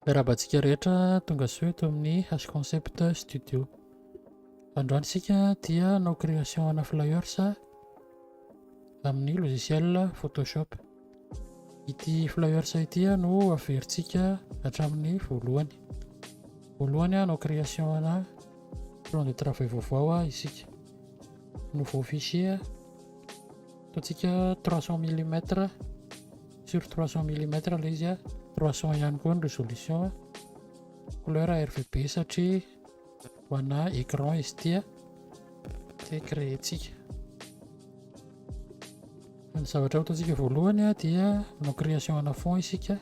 Miarahaba antsika rehetra tonga soa eto amin'ny Hash Concept Studio. Androany isika dia hanao création ana flyers amin'ny logiciel Photoshop. Ity flyers ity no averintsika hatramin'ny voalohany. Voalohany hanao création ana plan de travail vaovao isika. Nouveau fichier, ataontsika 300 mm. Sur trois cents millimètres ilay izy, trois cents ihany koa ny résolution, couleur RVB satria ho ana écran izy ity dia créer-tsika. Ny zavatra ataontsika voalohany dia manao création ana fond isika,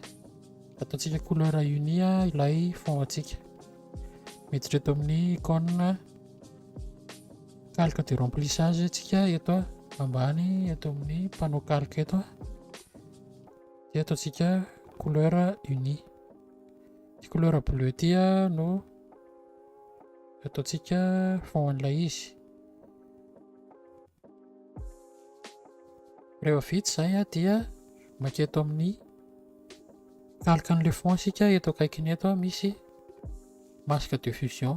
ataontsika couleur unie ilay fond antsika. Miditra eto amin'ny icône Calque de remplissage antsika eto ambany eto amin'ny panneau calque eto dia ataontsika couleur unie ity couleur bleu ity no ataontsika fond an'ilay izy rehefa vita izay dia maka eto amin'ny calque an'ilay fond isika eto akaikiny eto misy masque de fusion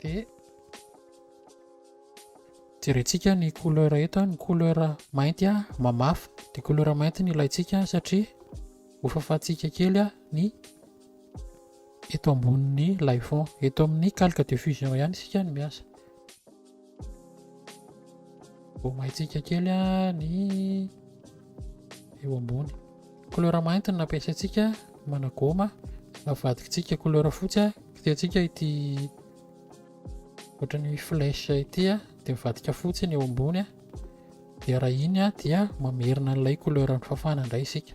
dia jerentsika ny couleur eto ny couleur mainty a mamafy dia couleur mainty ny ilaintsika satria hofafantsika kely a ny eto ambonin'ny lay fond eto amin'ny calque de fusion ihany isika ny miasa Ho maintsika kely ny eo ambony. Couleur mainty no nampiasaintsika managôma. Avadikintsika couleur fotsy. Kitihantsika ity ohatran'ny flèche ity dia mivadika fotsy ny eo ambony. Dia raha iny dia mamerina an'ilay couleur fafana indray isika.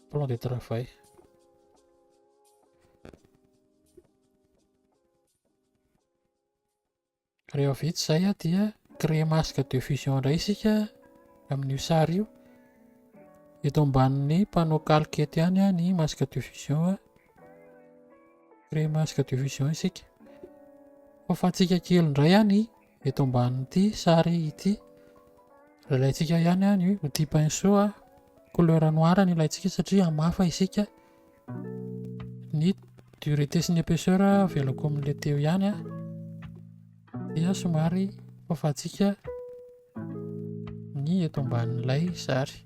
plan de travail rehefa vita izay a dia créer masque de fusion indray isika amin'io sary io eto ambanin'ny panneau calque eto ihany a ny masque de fusion a créer masque de fusion isika faofantsika kely indray a ny Eto ambanin'ity sary ity, ilaintsika ihany ny outil pinceau a, couleur noir no ilaintsika satria hamafa isika ny dureté sy ny épaisseur avelako amin'ilay teo ihany a, dia somary fafantsika ny eto ambanin'ilay sary.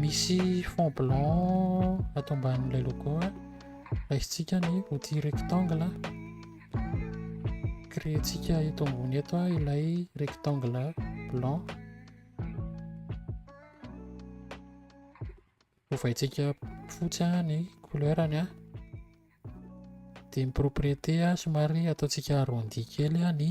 Misy fond blanc ato ambanin'ilay logo. Raisintsika ny outil rectangle. Créer-tsika eto ambony eto ilay rectangle blanc. Ovaintsika fotsy ny couleur-ny. Dia ny propriété somary ataontsika arrondi kely ny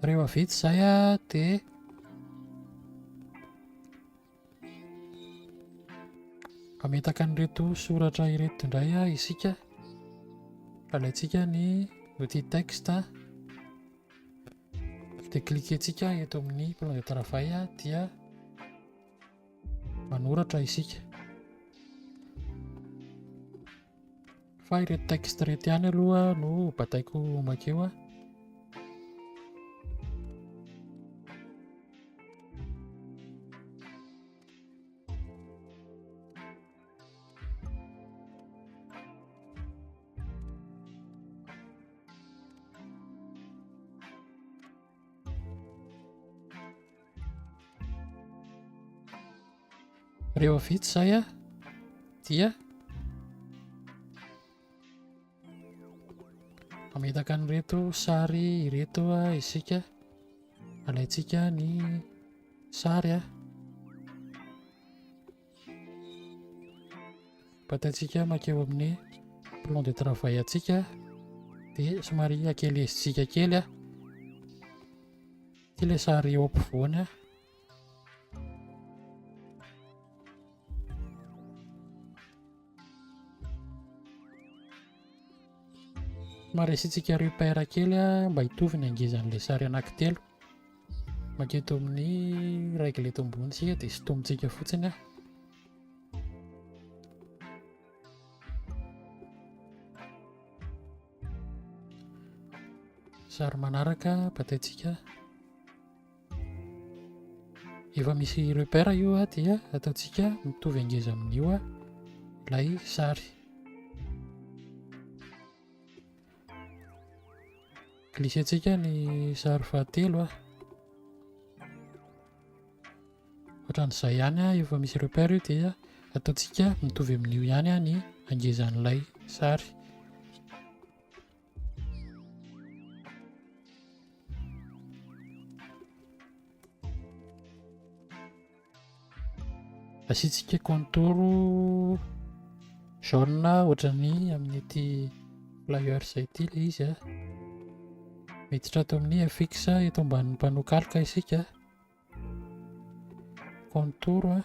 Rehefa vita izay a, dia ametaka an'ireto soratra ireto indray a isika. Alaintsika ny outil texte. dia cliquentsika eto amin'ny plan de travail dia manoratra isika fa ireto texte ireto ihany aloha no bataiko makeo a rehefa vita izay a dia ametaka ny reto sary ireto a isika alaintsika ny sary a Bataintsika makeo amin'ny plan de travail antsika dia somary akelezitsika kely a ity ilay sary eo ampovoany a somary asiantsika repère kely a mba hitovy ny hangezan'ilay sary anankitelo Manketo amin'ny règle eto ambony isika dia sintomintsika fotsiny aho. Sary manaraka bataintsika. Efa misy repère io a dia ataontsika mitovy angeza amin'io a ilay sary. Glissentsika ny sary fahatelo ah. Ohatran'izay ihany ah, efa misy repère io dia ataontsika mitovy amin'io ihany ah ny angezan'ilay sary. Asiantsika contour jaune ohatran'ny amin'ity players ity ilay izy ah. Miditra ato amin'ny fx eto ambanin'ny panneau calque isika. Contour ah.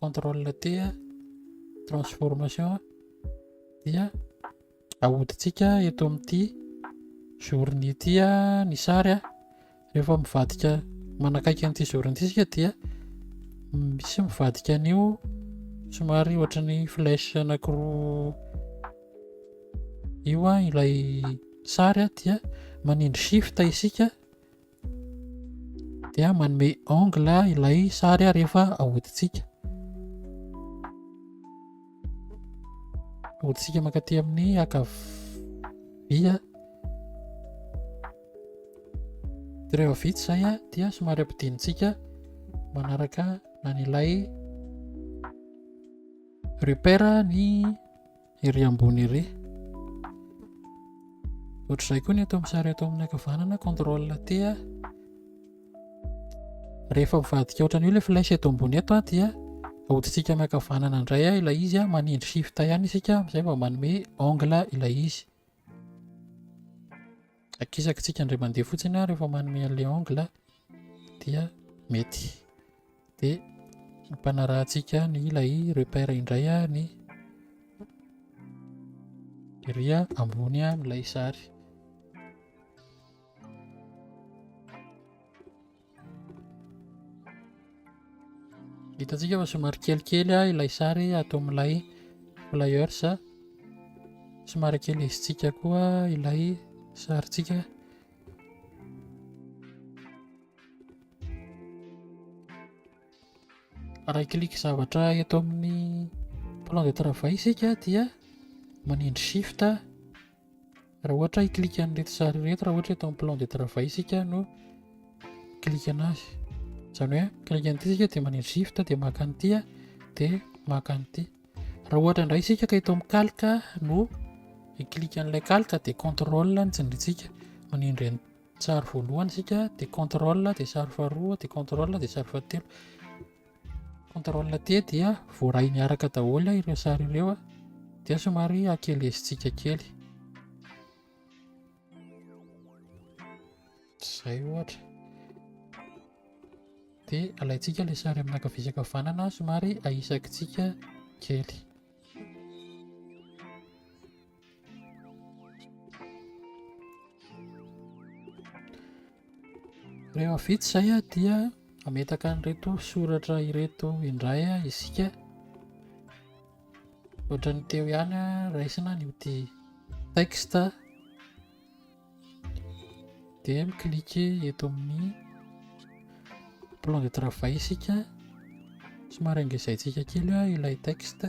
contrôle T transformation dia ahodintsika eto amin'ity zorony ity ny sary a rehefa mivadika manakaiky an'ity zorony ity isika dia misy mivadika an'io somary ohatra ny flèche anankiroa io a ilay sary a dia manindry shift isika dia manome angle ilay sary rehefa ahodintsika ahodintsika mankaty amin'ny ankavia dia rehefa vita izay a dia somary ampidinintsika manaraka an'ilay repère ny ery ambony ery ohatr'izay koa ny eto amin'ny sary eto amin'ny ankavanana contrôle T a rehefa mivadika ohatran'io ilay flèche eto ambony eto a dia ahodintsika amin'ny ankavanana indray a ilay izy a manindry shift ihany isika amin'izay vao manome angle ilay izy Akisakitsika indray mandeha fotsiny aho rehefa manome an'ilay angle dia mety. Dia ampanarahantsika ny ilay repère indray ny ery ambony amin'ilay sary. Hitantsika fa somary kelikely ilay sary ato amin'ilay flyers. Somary ekelesintsika koa ilay sarintsika. Raha i-clique zavatra eto amin'ny plan de travail isika dia manindry shift. Raha ohatra i clique an'ireto sary ireto raha ohatra eto amin'ny plan de travail isika no clique anazy izany hoe clique an'ity isika dia manindry shift dia maka an'ity dia maka an'ity raha ohatra indray isika ka eto amin'ny calque no i clique an'ilay calque dia contrôle ny tsindrintsika manindry an'ny sary voalohany isika dia contrôle dia sary faharoa dia contrôle dia sary fahatelo Contrôle T dia voaray miaraka daholo ireo sary ireo dia somary akelezintsika kely. Izay ohatra. Dia alaintsika ilay sary amin'ny ankavia sy ankavanana somary ahisakitsika kely. Rehefa vita izay dia ametaka an'ireto soratra ireto indray isika. Ohatra ny teo ihany raisina ny ody texte dia miklike eto amin'ny plan de travail isika somary engezaintsika kely ilay texte.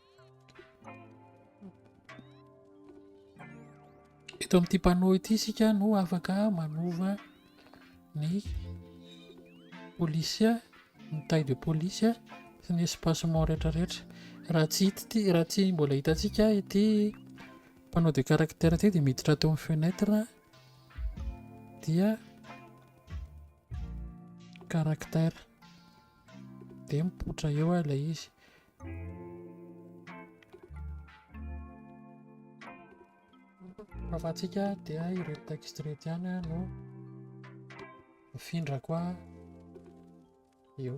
Eto amin'ity panneau ity isika no afaka manova ny polisià, ny taille de police sy ny espacement rehetrarehetra. Raha tsy hita ity, raha tsy mbola hitantsika ity panneau de caractère ity dia miditra ato amin'ny fenêtre dia caractère dia mipoitra eo ilay izy. Fahafahantsika dia ireo texte rehetra ihany ah, no mifindrako ah, eo.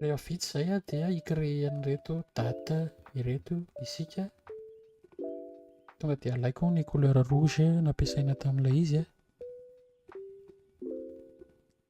Rehefa vita izay dia hi-créer an'ireto date ireto isika. Tonga dia alaiko ny couleur rouge nampiasaina tamin'ilay izy.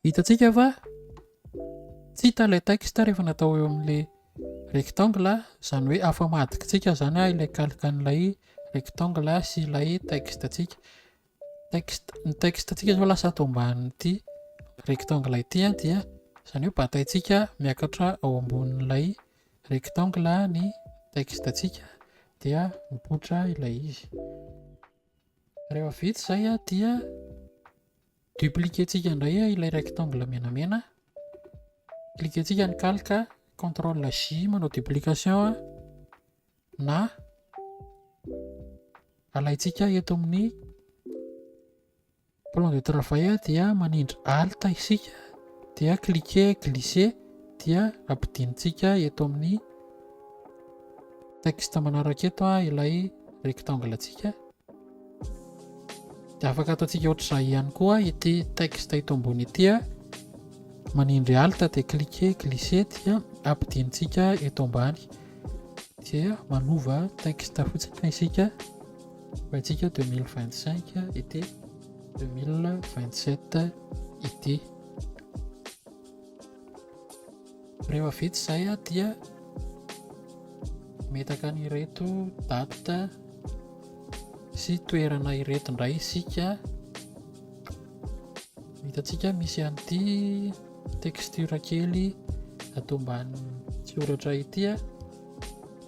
Hitantsika fa tsy hita ilay texte rehefa natao eo amin'ilay rectangle, izany hoe afa-madikintsika izany ilay calque an'ilay rectangle sy ilay texte antsika. Texte, ny texte antsika izao lasa ato ambanin'ity rectangle ity dia izany hoe bataintsika miakatra ao ambonin'ilay rectangle ny texte antsika dia mipoitra ilay izy. Rehefa vita izay dia Dupliquer-tsika indray ilay rectangle menamena. Cliquer-tsika ny calque, contrôle J manao duplication na alaintsika eto amin'ny plan de travail dia manindry alt isika dia cliquer glisser dia ampidintsika eto amin'ny texte manaraka eto ilay rectangle-tsika. Dia afaka ataontsika ohatr'izay ihany koa ity texte ito ambony ity a. Manindry alt dia cliquer glisser dia ampidintsika eto ambany. Dia manova texte fotsiny isika. Hoentsika 2025 ity 2027 ity. Rehefa vita izay dia metaka an'ireto date sy toerana ireto indray isika. Hitantsika misy an'ity texture kely ato ambanin'ny soratra ity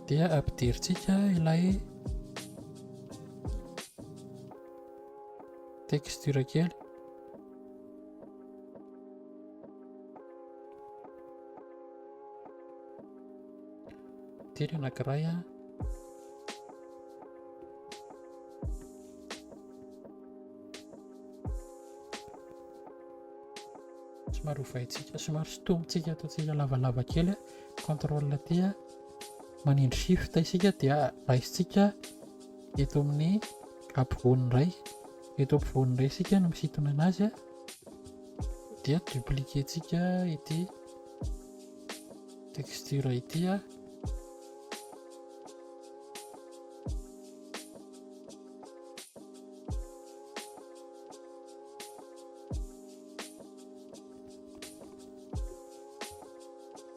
dia ampiderintsika ilay texture kely. Telo anankiray an. Somary hovaintsika, somary sotomintsika ataontsika lavalava kely an. Contrôle aty an. Manindry shift isika dia raisintsika eto amin'ny ampovoany iray. Eto ampovoany iray isika no misintona anazy an. dia dupliquer tsika ity texture ity a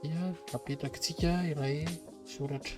dia apetrakitsika ilay soratra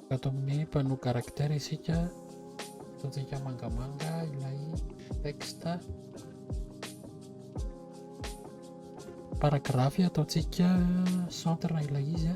Ato amin'ny panneau caractère isika, hitantsika mangamanga ilay texte. Paragraphe ataontsika centre ilay izy.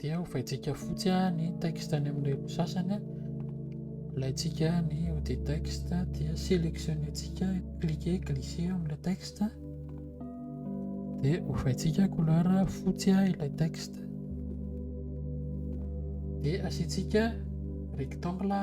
dia hovaintsika fotsy ny texte any amin'ny reto sasany alaintsika ny ode texte dia sélectionnentsika cliquer glisser amina texte dia hovaintsika couleur fotsy ilay texte dia asiantsika rectangle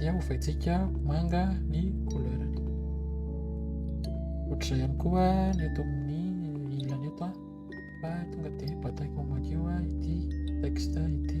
dia hovaintsika manga ny couleurny ohatr'izay ihany koa ny eto amin'ny ilany eto an fa tonga dia bataiko madio a ity texte ity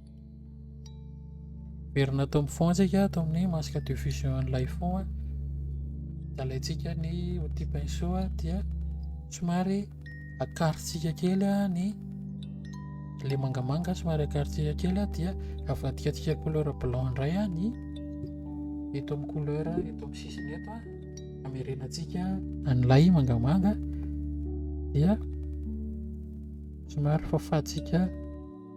Miverina tao amin'ny fond tsika tao amin'ny masque de fusion an'ilay fond a. Alaintsika ny outil pinceau a dia somary akarotsika kely a ny le mangamanga somary akarotsika kely a dia avadikatsika couleur blanc indray a ny eto amin'ny couleur eto amin'ny sisiny eto a. Amerenantsika an'ilay mangamanga dia somary fafantsika.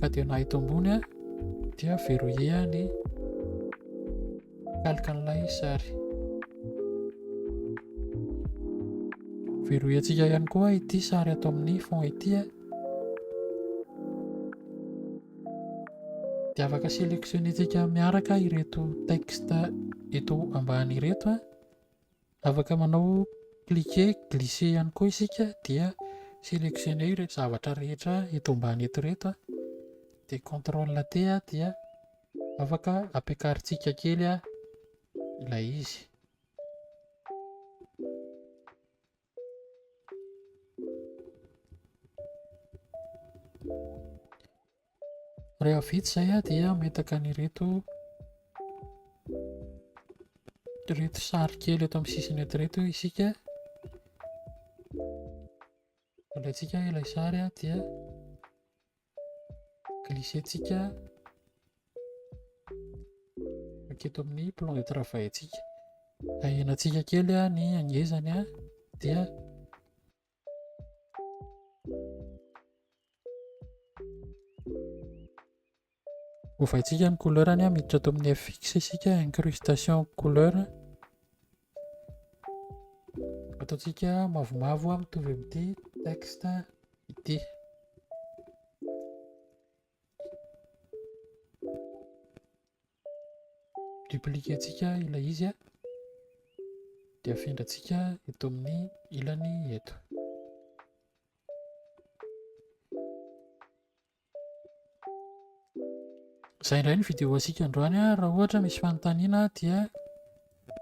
ka dia na eto ambony dia verrouiller ny kalikan'ilay sary verrouiller antsika ihany koa ity sary ato amin'ny fond ity dia afaka sélectionner antsika miaraka ireto texte eto ambany ireto Afaka manao cliquer, glisser ihany koa isika dia selectionner ireto zavatra rehetra eto ambany eto ireto dia contrôle T dia afaka ampiakarintsika kely ilay izy. Rehefa vita izay dia ametaka an'ireto ireto sary kely eto amin'ny sisiny eto ireto isika. Alaintsika ilay sary dia glissentsika eto amin'ny plan de travail-ntsika. Ahenantsika kely ny hangezany dia Ovaintsika ny couleur ania miditra ato amin'ny fx isika incrustation couleur ataontsika mavomavo mitovy amin'ity texte ity Dupliquer-tsika ilay izy dia afindrantsika eto amin'ny ilany eto. Izay indray ny vidéo antsika androany. Raha ohatra misy fanontaniana dia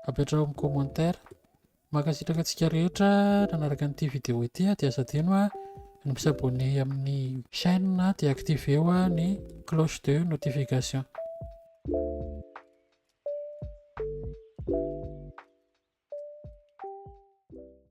apetraho amin'ny commentaire. Mankasitraka antsika rehetra nanaraka an'ity vidéo ity dia aza adino ny mi-s'abonner amin'ny chaîne dia activeo ny cloche de notification.